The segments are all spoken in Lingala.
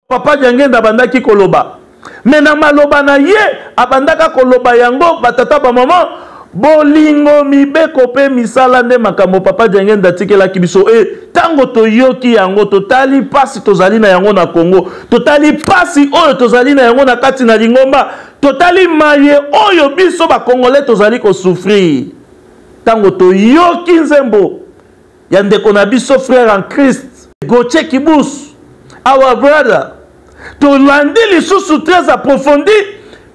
Papa Diangenda abandaki koloba me na maloba na ye abandaka koloba yango batata bamama bolingo mibeko mpe misala nde makambo papa Diangenda atikelaki biso e ntango toyoki yango totali mpasi tozali na yango na Congo totali mpasi oyo tozali na yango na kati na lingomba totali maye oyo biso bakongole tozali kosufrire ntango toyoki nzembo ya ndeko na biso frère en Christ Gauthier Kibusu our brother tolandi lisusu très approfondi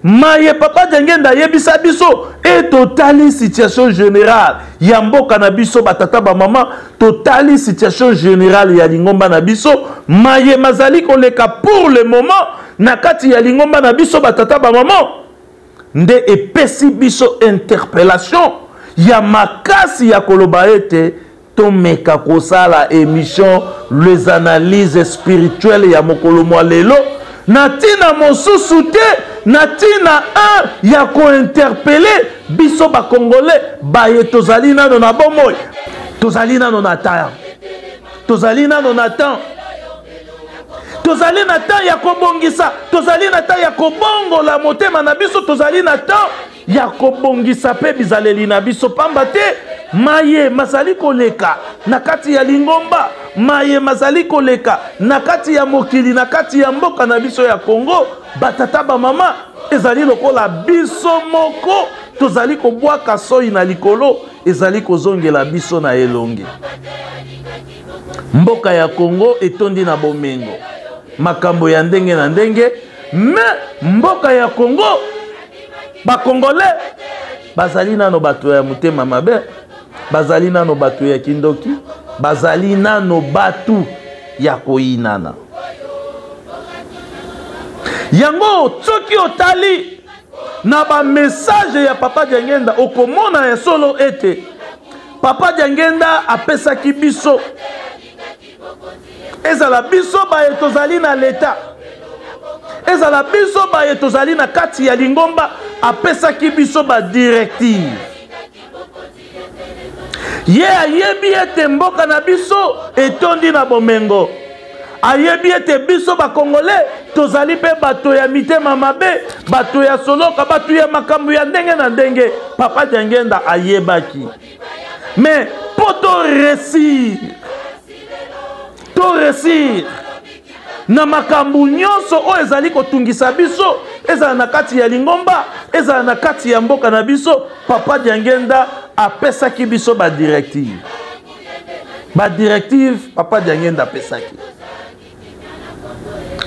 maye papa Diengenda ayebisa biso e totali situation générale ya mboka na biso batata bamama totali situation générale ya lingomba na biso maye mazali koleka pour le moment na kati ya lingomba na biso batata bamama nde epesi biso interpellation ya makasi ya koloba ete tomeka kosala emission les analyses spirituelles ya mokolo mwa lelo na ntina mosusu te na ntina 1 ya kointerpele biso bakongole baye tozali nano na bomoi tozali nano na temps tozali nano na temps tozali na temps ya kobongisa tozali na temps ya kobongola motema na biso tozali na temps ya kobongisa mpe bizaleli na biso mpamba te maye mazali koleka na kati ya lingomba maye mazali koleka na kati ya mokili na kati ya mboka na biso ya kongo batata bamama ezali lokola biso moko tozali kobwaka soi na likolo ezali kozongela biso na elongi Mboka ya Congo etondi na bomengo, makambo ya ndenge na ndenge, mais mboka ya Congo ba Congolais bazali nano bato ya motema mabe, bazali nano bato ya kindoki, bazali nano bato ya koyinana. Yango soki otali na ba message ya Papa Diangenda okomona ya solo ete papa diangenda apesaki biso ezala biso baye tozali na leta ezala biso baye tozali na kati ya lingomba apesaki biso badirective ye ayebi ete mboka na biso etondi na bomengo ayebi ete biso bakongole tozali mpe bato ya mitema mabe bato ya soloka bato ya makambo ya ndenge na ndenge papa diangenda ayebaki mais mpo toresir toresir na makambo nyonso oyo ezali kotungisa biso ezala na kati ya lingomba ezala na kati ya mboka na biso papa diangenda apesaki biso badirective badirective papa diangenda apesaki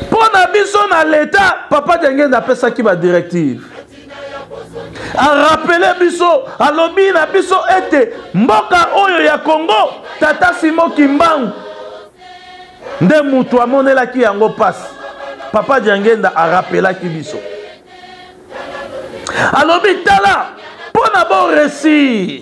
mpo na biso na leta papa diangenda apesaki badirective arapele biso alobi na biso ete mboka oyo ya kongo tata simo kimbangu nde moto amonelaki yango mpasi papa diangenda arapelaki biso alobi tala mpo na boresir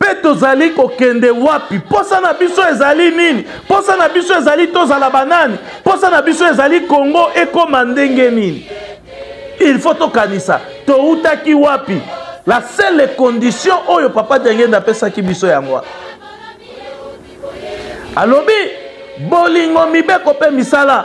mpe tozali kokende wapi mposa na biso ezali nini mposa na biso ezali tozala banani mposa na biso ezali kongo ekoma ndenge nini il faut tokanisa toutaki wapi la seule condition oyo papa diangenda apesaki biso yango wana alobi bolingo mibeko mpe misala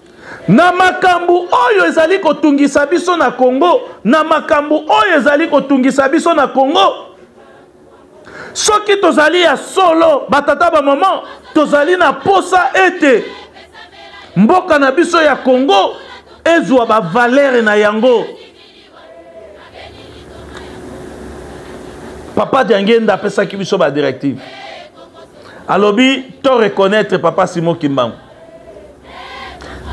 Na makambo oyo ezali kotungisa biso na Congo, na makambo oyo ezali kotungisa biso na Congo, soki tozali ya solo batata ba mama, tozali na posa ete mboka na biso ya Congo ezwa ba valeurs na yango. papa diangenda apesaki biso badirective alobi to reconnaître papa simo kimbangu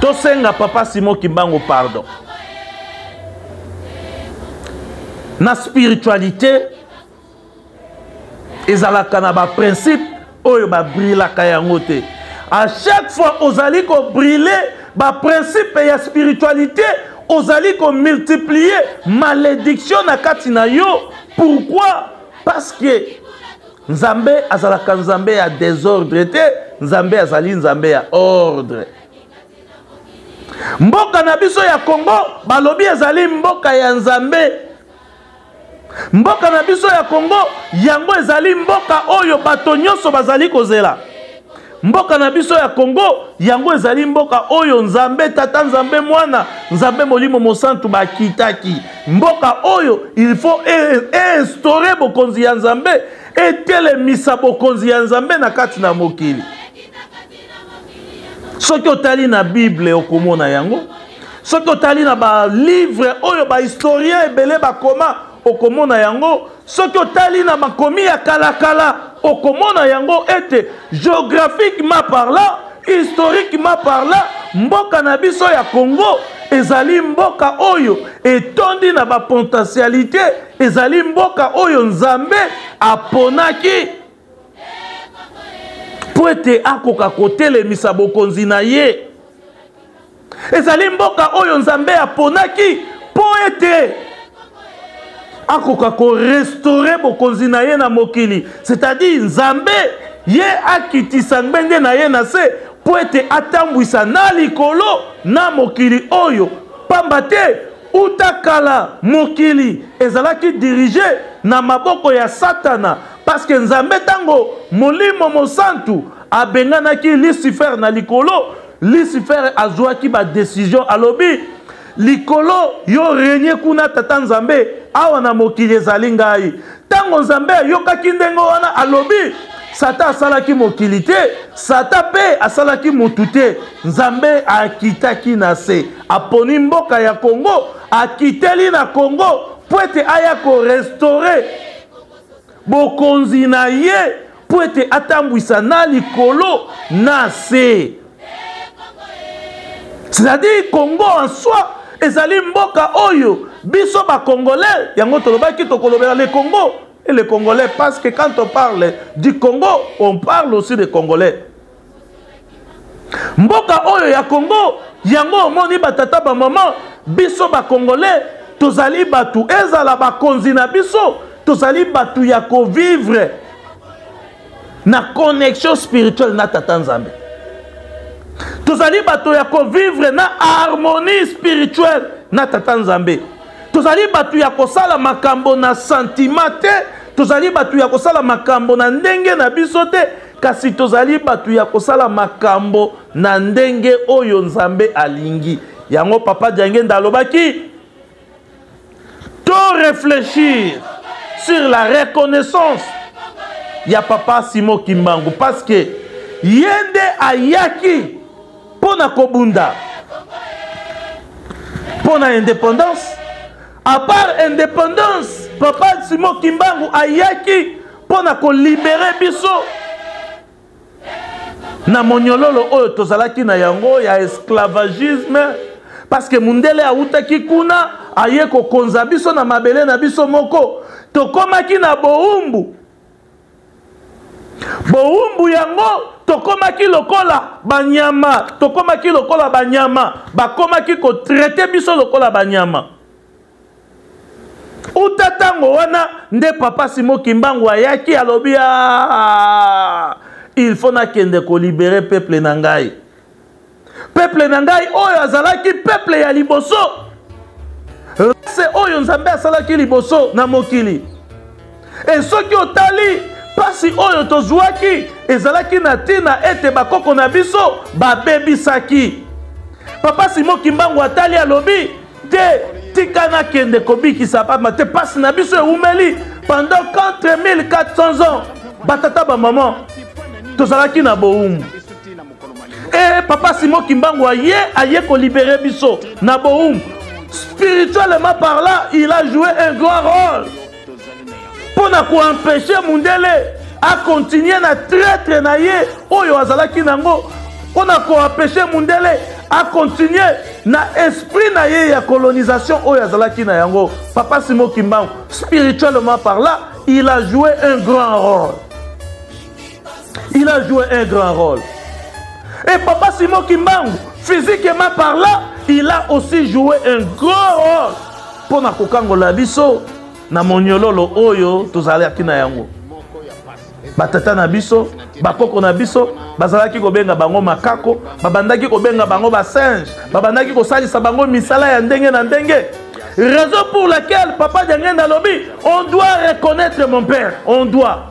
tosenga papa simo kimbangu pardon na spiritualité ezalaka na baprincipe oyo babrilaka yango te à chaque fois ozali kobrile baprincipe ya spiritualité ozali komultiplie malédiction na kati na yo pourquoi parce que nzambe azalaka nzambe ya désordre te nzambe azali nzambe ya ordre mboka na biso ya congo balobi ezali mboka ya nzambe Mboka na biso ya Congo, yango ezali mboka oyo bato nyonso bazali kozela. Mboka na biso ya Congo, yango ezali mboka oyo Nzambe Tata, Nzambe Mwana, Nzambe Molimo Mosantu bakitaki. Mboka oyo il faut e, e instaurer bokonzi ya Nzambe, etelemisa bokonzi ya Nzambe na kati na mokili. soki otali na bible okomona yango soki otali na balivre oyo bahistorien ebele bakoma okomona yango soki otali na makomi ya kalakala okomona yango ete geographiquement parlant historiquement parlant mboka na biso ya congo ezali mboka oyo etondi na bapotentialité ezali mboka oyo nzambe aponaki mpo ete akoka kotelemisa bokonzi na ye ezali mboka oyo nzambe aponaki mpo ete akoka korestore bokonzi na ye na mokili c'est-à-dire nzambe ye akitisa ngbende na ye na se mpo ete atambwisa na likolo na mokili oyo mpamba te uta kala mokili ezalaki dirige na maboko ya satana Parce que Nzambe tango Molimo Mosantu abenganaki Lucifer na likolo, Lucifer azuaki ba decision alobi likolo yo renye kuna tata Nzambe awa na mokili ezali ngai. Tango Nzambe ayokaki ndenge wana alobi Sata asalaki mokili te, Sata pe asalaki mutu te. Nzambe akitaki na se, aponi mboka ya Congo, akiteli na Congo po ete aya ko restaurer bokonzi na ye mpo ete atambwisa na likolo na se c'est-à-dire congo en soi ezali mboka oyo biso bacongolais yango tolobaki tokolobela le congo et le congolais parce que quand on parle du congo on parle aussi de congolais mboka oyo ya congo yango omoni batata bamama biso bakongolais tozali bato ezala bakonzi na biso tozali bato ya kovivre na connexion spirituelle na tata nzambe tozali bato ya kovivre na harmonie spirituelle na tata nzambe tozali bato ya kosala makambo na sentiment te tozali bato ya kosala makambo na ndenge na biso te Kasi tozali bato ya kosala makambo na ndenge oyo Nzambe alingi. Yango Papa Diangenda alobaki, to réfléchir sur la reconnaissance ya Papa Simon Kimbangu parce que ye nde ayaki mpo na kobunda mpo na indépendance à part indépendance papa simo kimbangu ayaki mpo na kolibere biso na monyololo oyo tozalaki na yango ya esclavagisme parceke mundele awutaki kuna aye kokonza biso na mabele na biso moko tokomaki na bowumbu bowumbu yango tokomaki lokola banyama tokomaki lokola banyama bakomaki kotraite biso lokola banyama uta ntango wana nde papa simo kimbangu ayaki alobi aa il faut nakende kolibere peuple na ngai peuple na ngai oyo azalaki peuple ya liboso rase oyo nzambe asalaki liboso na mokili e soki otali mpasi oyo tozwaki ezalaki na ntina ete bakoko na biso babebisaki papa simo kimbangu atali alobi te tika nakende kobikisa bama te mpasi na biso ewumeli pendant 4400 ans batata bamama tozalaki na bowumbu e papa simo kimbangu aye aye kolibere biso na bowumbu spirituellement parlant il a joué un grand rôle mpo na koempeshe mundele akontinue na traitre na ye oyo azalaki nango mpo na koempeshe mundele akontinue na esprit na ye ya colonisation oyo azalaki na yango papa simo kimbangu spirituellement par là il a joué un grand rôle Il a joué un grand rôle. Et Papa Simon Kimbangu, physiquement parlant, il a aussi joué un grand rôle pour na kokangola biso na moniololo oyo tozalaki na yango. batata na biso bakoko na biso bazalaki kobenga bango makako babandaki kobenga bango basinge babandaki kosalisa bango misala ya ndenge na ndenge raison pour laquelle papa diangenda alobi on doit reconnaître mon père on doit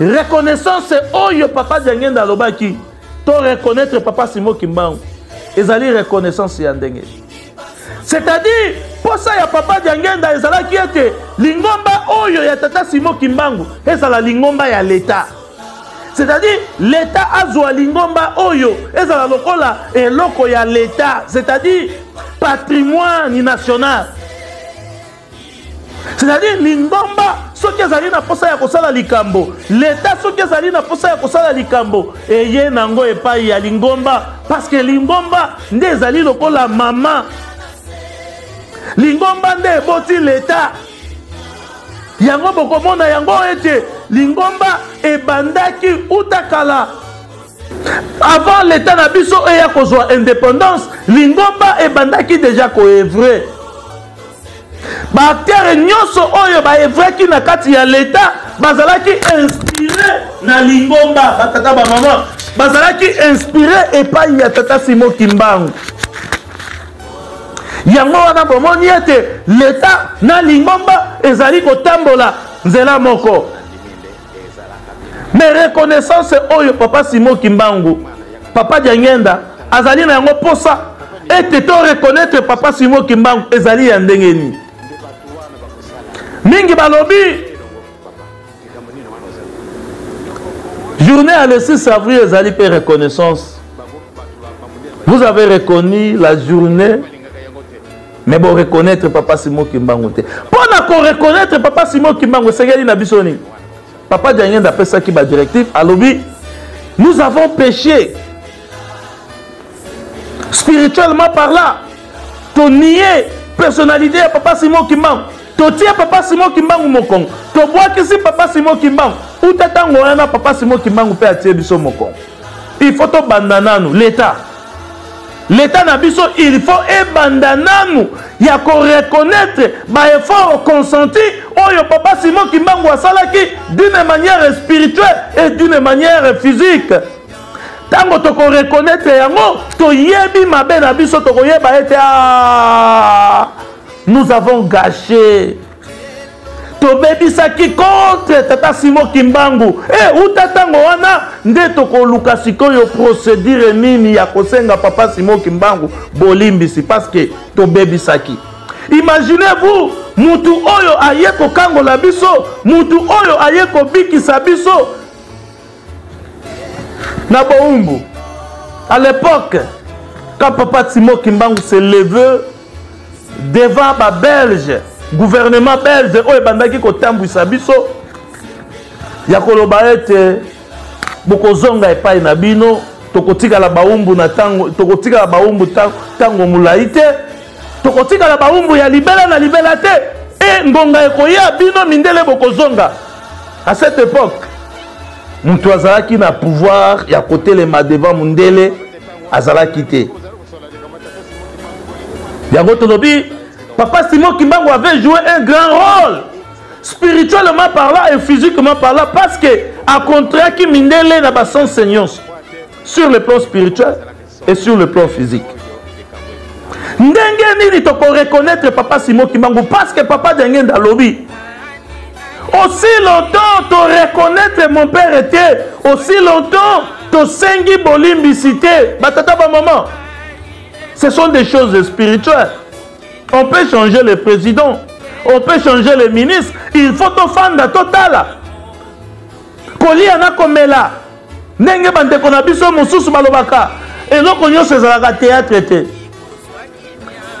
reconnaissance oyo papa diangenda alobaki to reconnaître papa simo kimbangu ezali reconnaissance ya ndenge c'est-à-dire mposa ya papa diangenda ezalaki ete lingomba oyo ya tata simo kimbangu ezala lingomba ya leta c'est-à-dire leta azwa lingomba oyo ezala lokola eloko ya leta c'est-à-dire patrimoine national c'est-à-dire lingomba soki ezali na mposa ya kosala likambo leta soki ezali na mposa ya kosala likambo eye na yango epai ya lingomba parce que lingomba nde ezali lokola mama lingomba nde eboti leta yango bokomona yango ete lingomba ebandaki uta kala avant leta na biso eya kozwa indépendance lingomba ebandaki deja koevre baaktere nyonso oyo baevraki na kati ya leta bazalaki inspire na lingomba batata bamama bazalaki inspire epai ya tata simo kimbangu yango wana bomoni ete leta na lingomba ezali kotambola nzela moko mais reconnaissance oyo papa simo kimbangu papa diangenda azali na yango mposa ete to reconnaître papa simo kimbangu ezali ya ndenge nini mingi balobi journée ya le 6 avril ezali mpe reconnaissance vous avez reconnu la journée mais bo reconnaître papa simo kimbangu te mpo na ko reconnaître papa simo kimbangu esengeli na biso nini papa diangenda apesaki badirective alobi nous avons péché spirituellement par là tonie personnalité ya papa simo kimbangu totie papa simo kimbangu mokongo tobwakisi papa simo kimbangu uta ntango wana papa simo kimbangu mpe atie biso mokongo il faut tobanda nanu leta leta na biso il faut ebanda nanu ya koreconnaitre baeffort consenti oyo papa simon kimbangu asalaki d'une manière spirituelle et d'une manière physique ntango tokoreconnaitre yango toyebi mabe na biso tokoyeba ete ah, nous avons gâché tobebisaki contre tata simo kimbangu e eh, uta ntango wana nde tokoluka sikoyo procédure nini ya kosenga papa simo kimbangu bolimbisi parce que tobebisaki imaginez vous mutu oyo aye kokangola biso mutu oyo aye kobikisa biso na boumbu à l'époque quand papa simo kimbangu se leveux devant ba belge gouvernement belge oyo ebandaki kotambwisa biso ya koloba ete bokozonga epai na bino tokotikala baumbu na tango tokotikala baumbu tango molai te tokotikala baumbu ya libela na libela te e ngonga ekoya bino mindele bokozonga à cette époque moto azalaki na pouvoir ya kotelema devant mondele azalaki te yango tolobi papa simon kimbangu avait joué un grand rôle spirituellement parlant et physiquement parlant parce que acontraki mindele na basense nyonso sur le plan spirituel et sur le plan physique ndenge nini tokoreconnaitre papa simon kimbangu parce que papa diangenda alobi aussi longtemps to reconnaître mon père était aussi longtemps tosengi bolimbisi te batata bamama ce sont des choses spirituelles on peut changer le président on peut changer le ministre il faut tofanda totala kolia na komela ndenge bandeko na biso mosusu balobaka eloko nyonso ezalaka théâtre te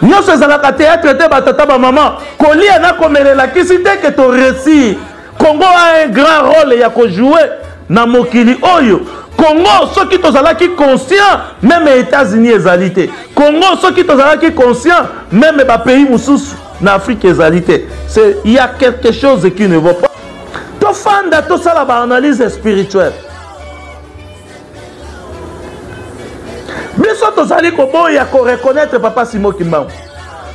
nyoso ezalaka théâtre te batata ba maman kolia na komela elakisi te ke to réussir congo a un grand rôle ya kojouer na mokili oyo congo soki tozalaki conscient meme états-unis ezali te congo soki tozalaki conscient meme bapays mosusu na afrique ezali te c'est il y a quelque chose qui ne va pas tofanda tosala baanalyse spirituelle biso tozali koboya koreconnaitre papa simo kimbangu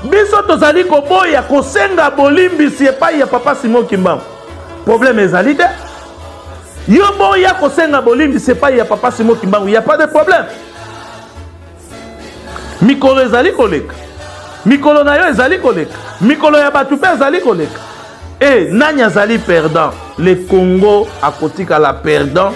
biso tozali koboya kosenga bolimbisi epai ya papa simo kimbangu probleme ezali te yo boya kosenga bolimbisi epai ya papa simo kimbangu ya pas de problème mikolo ezali koleka mikolo na yo ezali koleka mikolo ya bato mpe ezali koleka e nani azali perdant le congo akotikala perdant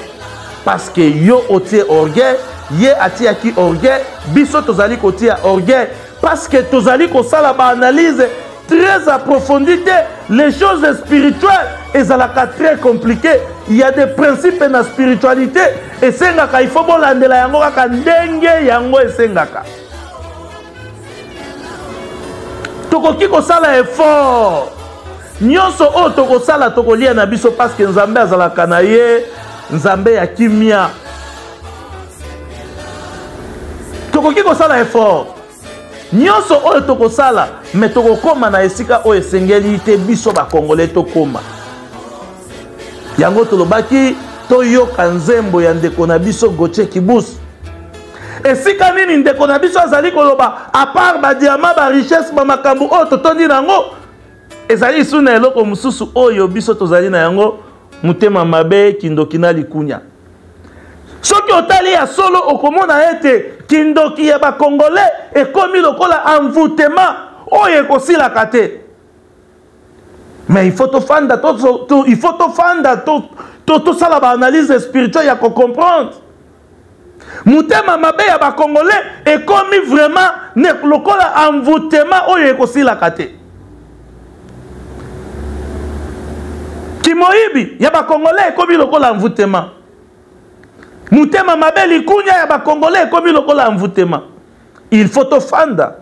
parce que yo otie orgueil ye atiyaki orgueil biso tozali kotia orgueil parce que tozali kosala baanalyse très approfondie te les choses spirituelles ezalaka très compliqué il y a des principes na spiritualité esengaka il faut bolandela yango kaka ndenge yango esengaka tokoki kosala effort nyonso oyo tokosala tokolia na biso parceke nzambe azalaka na ye nzambe ya kimia tokoki kosala effort Nionso oyo tokosala me tokokoma na esika oyo esengeli te biso bakongole tokoma yango tolobaki toyoka nzembo ya ndeko na biso gotie kibus esika nini ndeko na biso azali koloba apart badiama barichesse bamakambo oyo totondi na yango ezali lisu na eloko mosusu oyo biso tozali na yango motema mabe kindoki na likunya soki otali ya solo okomona ete kindoki ya bakongole ekomi lokola envoutema oyo ekosilaka te mais il faut tofanda il faut tofanda tosala baanalyse spirituelle ya kocomprendre motema mabe ya bakongole ekomi vraiment lokola envoutema oyo ekosilaka te kimoyibi ya bakongole ekomi lokola envoutema motema mabe likunya ya bakongole ekomi lokola envoutema il faut tofanda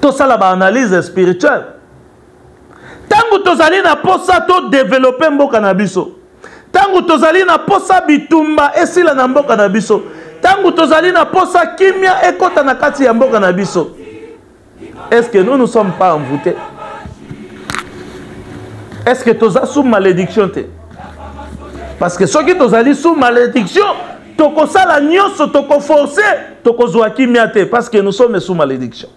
tosala baanalyse spirituelle ntango tozali na mposa todevelope mboka na biso ntango tozali na mposa bitumba esila na mboka na biso ntango tozali na mposa kimia ekɔta na kati ya mboka na biso est ce que nous nous sommes pas envoûté est ce que toza sous malédiction te parce que soki tozali sous malédiction tokosala nyonso tokoforce tokozwa kimia te parce que nous sommes sous malédiction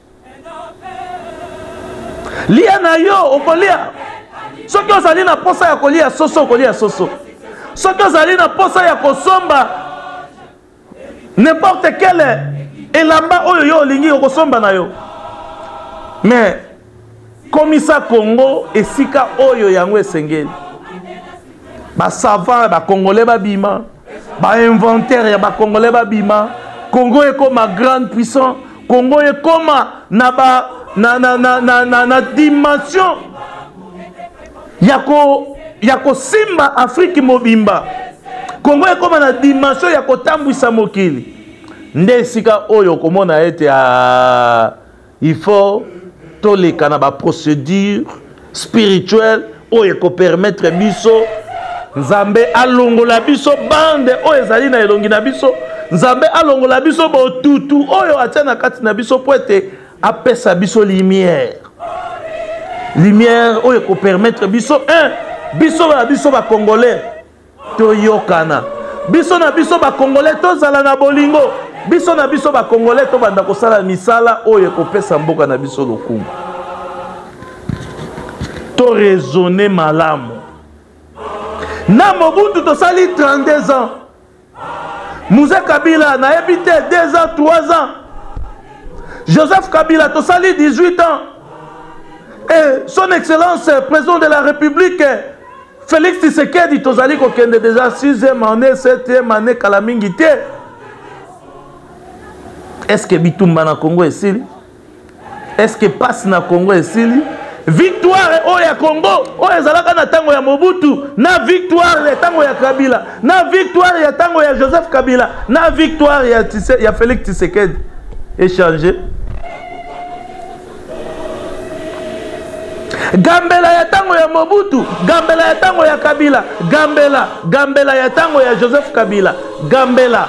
lia na yo okolia soki ozali na mposa ya kolia soso okolia soso soki ozali na mposa ya kosomba n'importe quel elamba oyo yo olingi okosomba na yo mais komisa congo esika oyo yango esengeli basavant ya bacongolais babima bainventaire ya bacongolais babima congo ekoma grande puissant congo ekoma na ba na, na, na, na, na, na dimension ya ko ya kosimba afriki mobimba kongo ekóma na dimension ya kotambwisa mokili nde esika oyo okomona ete ah, il faut toleka na baprocédure spirituelle oyo ekopermettre biso nzambe alongola biso bande oyo ezali na elongi na biso nzambe alongola biso botutu oyo atya na kati na biso mpo ete apesa biso lumière lumière oyo ekopermettre biso un biso na biso bacongolais toyokana biso na biso bacongolais tozala na bolingo biso na biso bacongolais tobanda kosala misala oyo ekopesa mboka na biso lokumu toraisonne malamu na mobutu tosali 32 ans Muze Kabila na yebi te 2 ans 3 ans Joseph Kabila tosali 18 ans et son excellence euh, président de la République euh, Félix Tshisekedi tozali kokende déjà 6e année 7e année kala mingi te est-ce que bitumba na Congo esili Est-ce que pasi na Congo esili? Victoire oyo ya Congo oyo ezalaka na tango ya Mobutu na victoire ya tango ya Kabila na victoire ya tango ya Joseph Kabila na victoire ya, Tise, ya Felix Tshisekedi echange gambela ya tango ya Mobutu gambela ya tango ya Kabila gambela gambela ya tango ya Joseph Kabila gambela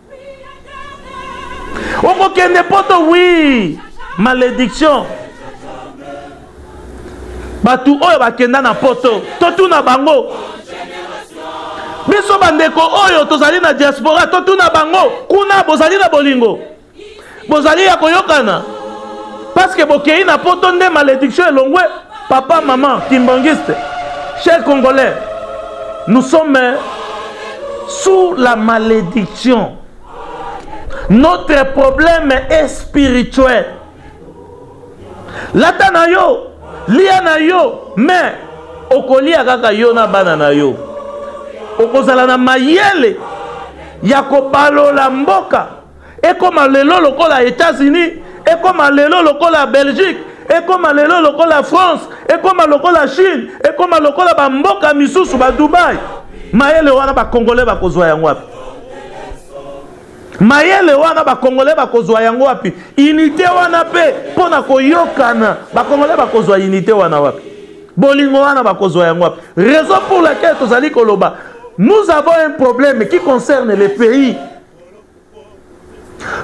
okokende poto wi malédiction bato oyo bakenda na poto totuna bango biso bandeko oyo tozali na diaspora totuna bango kuna bozali na bolingo Bozali ya koyokana parce que bokeyi na poto nde malédiction elongwe papa maman kimbangiste cher congolais nous sommes sous la malédiction notre problème est spirituel lata na yo lia na yo mais okolia kaka yo na bana na yo okozala na mayele ya kobalola mboka ekoma lelo lokola etats-unis ekoma lelo lokola belgique ekoma lelo lokola france ekoma lokola chine ekoma lokola bamboka misusu badubai mayele wana bakongole bakozwa yango wapi mayele wana bakongole bakozwa yango wapi unité wana mpe mpo na koyokana bakongole bakozwa unité wana wapi bolingo wana bakozwa yango wapi raison pour laquelle tozali koloba nous avons un problème qui concerne le pays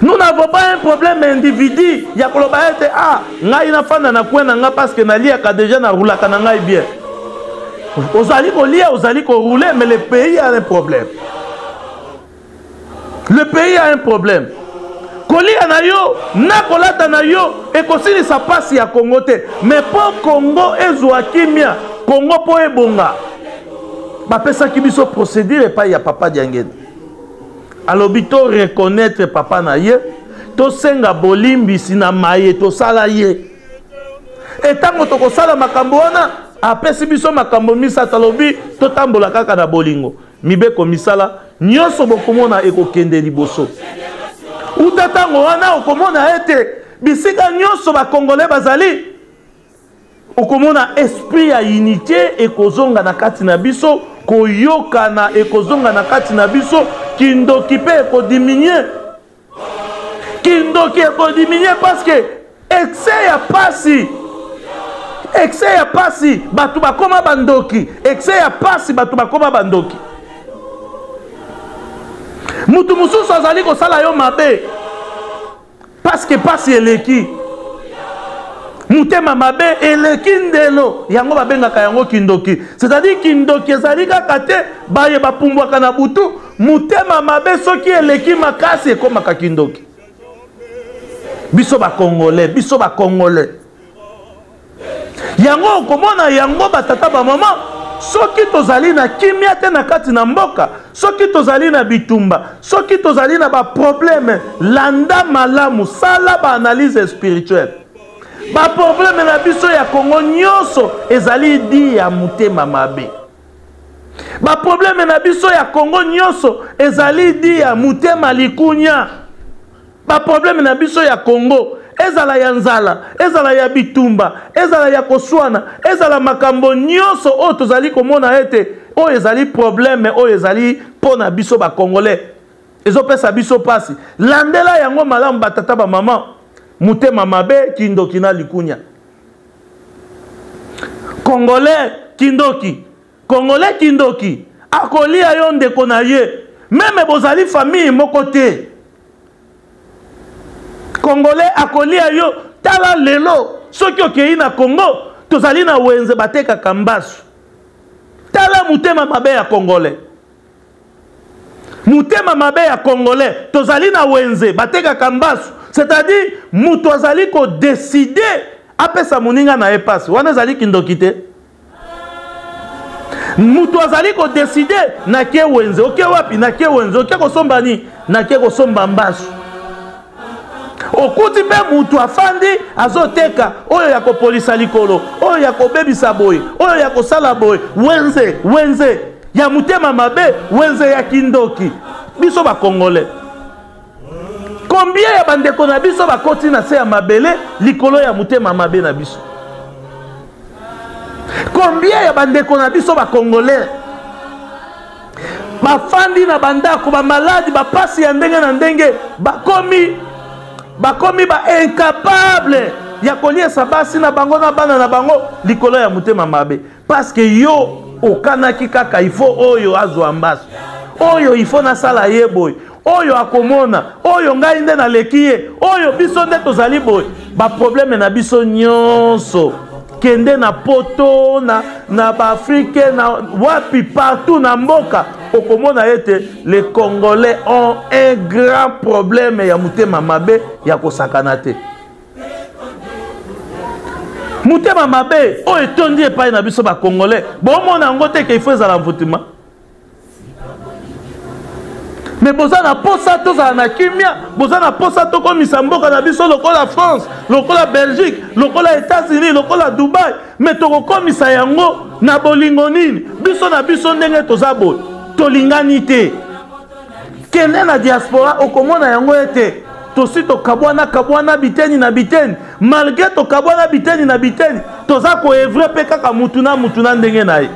nous n'avons pas un problème individu ya koloba ete a ah, ngai nafanda na kwe na ngai parceke naliaka deja narulaka na ngai bien ozali kolia ozali korule mais le pays a un problème le pays a un problème kolia na yo na kolata na yo ekosilisa mpasi ya kongo te mais mpo kongo ezwa kimia kongo mpo ebonga bapesaki biso procédure epai ya papa diangene alobi to reconnaitre papa na ye tosenga bolimbisi na maye tosala ye etango tokosala makambo wana apesi biso makambo misato alobi totambola kaka na bolingo mibeko misala nyonso bokomona ekokende liboso uta ntango wana okomona ete bisika nyonso bakongole bazali okomona esprit ya unité ekozonga na kati na biso koyokana ekozonga na kati na biso kindoki mpe ekodiminue kindoki ekodiminue parceke excès ya pasi excès ya pasi bato bakoma bandoki excès ya pasi bato bakoma bandoki moto mosusu azali kosala yo mabe parce que pasi eleki motema mabe eleki ndelo yango babengaka yango kindoki c'est-à-dire kindoki ezali kaka te baye bapumbwaka na butu motema mabe soki eleki makasi ekomaka kindoki biso bakongole biso bakongole yango okomona yango batata bamama soki tozali na kimia te na kati na mboka soki tozali na bitumba soki tozali na baprobleme landa malamu sala baanalyse spirituelle baprobleme na biso ya kongo nyonso ezali di ya motema mabe baprobleme na biso ya kongo nyonso ezali di ya motema likunya ba problème na biso ya congo ezala ya nzala ezala ya bitumba ezala ya koswana ezala makambo nyonso oyo tozali komona ete oyo ezali problème oyo ezali mpo na biso bacongolais ezopesa biso mpasi landela yango malamu batata bamama motema mabe kindoki na likunya congolais kindoki Congolais kindoki akolia yo ndeko na ye meme bozali famille moko te Congolais akolia yo tala lelo soki okeyi na Congo tozali na wenze batekaka mbasu tala motema mabe ya Congolais motema mabe ya congolais tozali na wenze batekaka mbasu c'est-à-dire moto azali kodeside apesa moninga na ye mpasi wana ezali kindoki te moto azali kodeside nake wenze oke wapi nake wenze oke kosomba nini nake kosomba mbasu okuti mpe moto afandi azoteka oyo ya kopolisa likolo oyo ya kobebisa boye oyo ya kosala boye wenze wenze ya motema mabe wenze ya kindoki biso bakongole Combien ya bandeko na biso bakoti na se ya mabele likolo ya motema mabe na biso? Combien ya bandeko na biso bakongolais bafandi na bandako bamaladi bapasi ya ndenge na ndenge bakomi bakomi baincapable ya koliesa basi na bango na bana na bango likolo ya motema mabe parce que yo okanaki kaka il faut oyo azwa mbasu oyo il faut nasala ye boye oyo akomona oyo ngai nde naleki ye oyo biso nde tozali boye baprobleme na biso nyonso kende na poto na, na baafrike na wapi partout na mboka okomona ete les congolais ont un grand problème ya motema mabe ya kosakana te motema mabe oyo etondi epai na biso bacongolais bomona yango te ke ifo ezala mvutima me boza na mposa tozala na kimia boza na mposa tokomisa mboka na biso lokola france lokola belgique lokola états-unis lokola dubai me tokokomisa yango na bolingo nini biso na biso ndenge toza boye tolingani te kende na diaspora okomona yango ete tosi tokabwana kabwana biteni na biteni malgre tokabwana biteni na biteni toza koevre mpe kaka mutu na mutu na ndenge na ye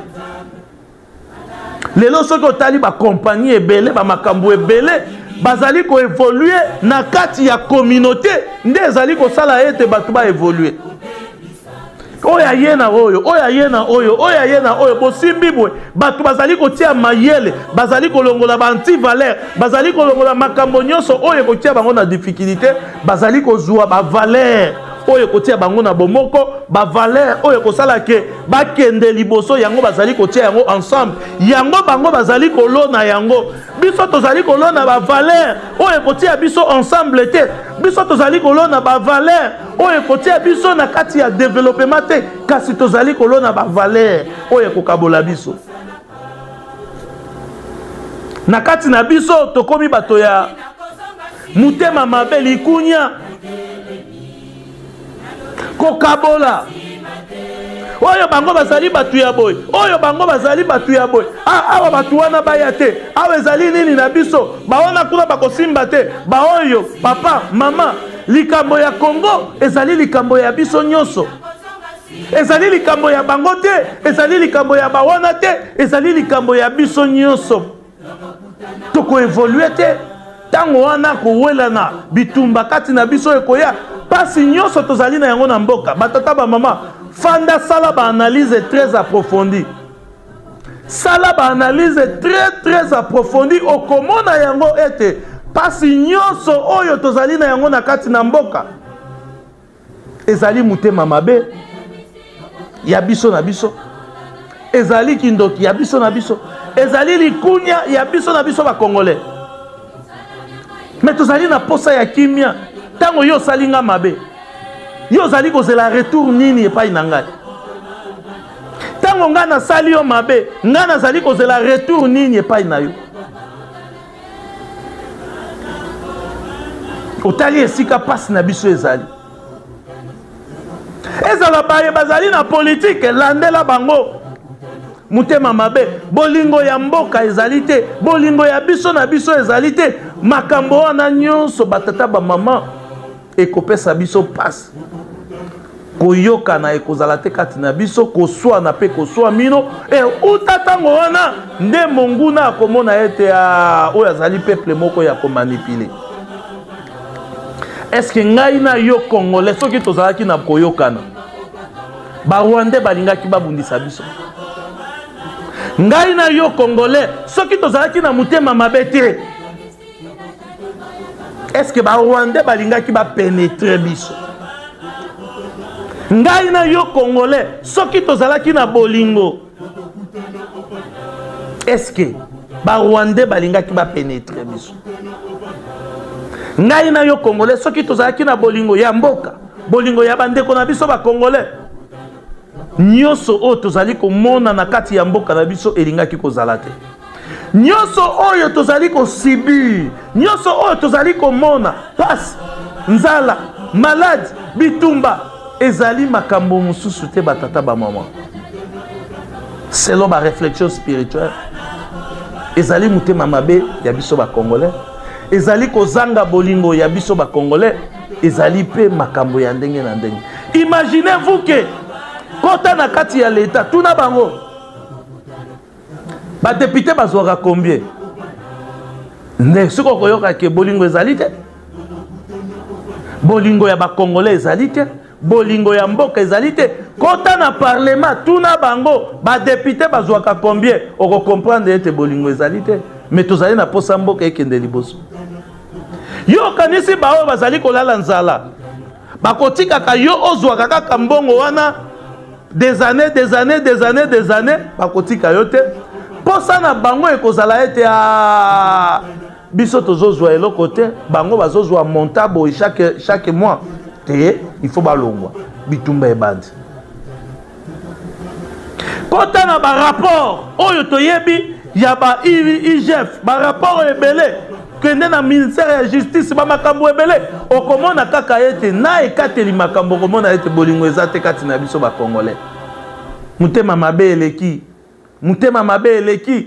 lelo soki otali bakompani ebele bamakambo ebele bazali koevolue na kati ya communauté nde ezali kosala ete bato baevolue oyo aye na oyo oyo aye na oyo oyo aye na oyo bosimbi boye bato bazali kotia mayele bazali kolongola baantivalere bazali kolongola makambo nyonso oyo ekotia bango na difikilite bazali kozwa bavalere oyo ekotia bango na bomoko bavalere oyo ekosala ke bakende liboso yango bazali kotia yango ensemble yango bango bazali kolona yango biso tozali kolona bavalere oyo ekotia biso ensemble te biso tozali kolona bavalere oyo ekotia biso na kati ya developema te kasi tozali kolona bavalere oyo ekokabola biso na kati na biso tokomi bato ya motema mabe likunya kokabola oyo bango bazali bato ya boye oyo bango bazali bato ya boye ah, awa bato wana baya te awa ezali nini na biso bawana kuna bakosimba te baoyo papa mama likambo ya congo ezali likambo ya biso nyonso ezali likambo ya bango te ezali likambo ya bawana te ezali likambo ya biso nyonso tokoevolue te ntango wana kowelana bitumba kati na biso ekoya mpasi nyonso tozali na yango na mboka batata bamama fanda sala baanalyse très approfondie sala baanalyse très très approfondi okomona yango ete mpasi nyonso oyo tozali na yango na kati na mboka ezali motema mabe ya biso na biso ezali kindoki ya biso na biso ezali likunya ya biso na biso bakongole me tozali na mposa ya kimia ntango yo osali nga mabe yo ozali kozela retour nini epai na ngai ntango ngai nasali yo mabe ngai nazali kozela retour nini epai na yo otali esika mpasi na biso ezali ezala baye bazali na politike landela bango motema mabe bolingo ya mboka ezali te bolingo ya biso na biso ezali te makambo wana nyonso batata bamama ekopesa biso mpasi koyokana ekozala te kati na biso koswana mpe koswa mino e uta ntango wana nde monguna akomona ete ah, oyo azali peple moko ya komanipile eske ngai na yo congolais soki tozalaki na koyokana barwandais balingaki babundisa biso ngai na yo congolais soki tozalaki na motema mabe te est ce que barwandais balingaki bapenetre biso ngai na yo congolais soki tozalaki na bolingo est ce que barwandais balingaki bapenetre biso ngai na yo congolais soki tozalaki na bolingo ya mboka bolingo ya bandeko na biso bacongolais nyonso oyo tozali komona na kati ya mboka na biso elingaki kozala te nyonso oyo tozali kosibir nyonso oyo tozali komona pasi nzala maladi bitumba ezali makambo mosusu te batata bamama selon bareflexion spirituelle ezali motema mabe ya biso bacongolais ezali kozanga bolingo ya biso bacongolais ezali mpe makambo ya ndenge na ndenge imaginez vous ke kota na kati ya leta tuna bango ba député bazwaka combien nde soki okoyoka ke bolingo ezali te bolingo ya bacongolais ezali te bolingo ya mboka ezali te kota na parlema tuna bango badepute bazwaka combien okokomprendre ete bolingo ezali te me tozali na mposa mboka ekende liboso yo okanisi baoyo bazali kolala nzala bakotikaka yo ozwaka kaka mbongo wana des années des années des années des années bakotika yo te mposa na bango ekozala ete ah, biso tozozwa eloko te bango bazozwa monta boye chaque, chaque mois te il faut balongwa bitumba ebandi kota na barapport oyo toyebi ya ba igf barapport ebele kende na ministère ya justice bamakambo ebele okomona kaka ete na ekateli makambo okomona ete bolingo eza te kati na biso bacongolais motema mabe eleki motema mabe eleki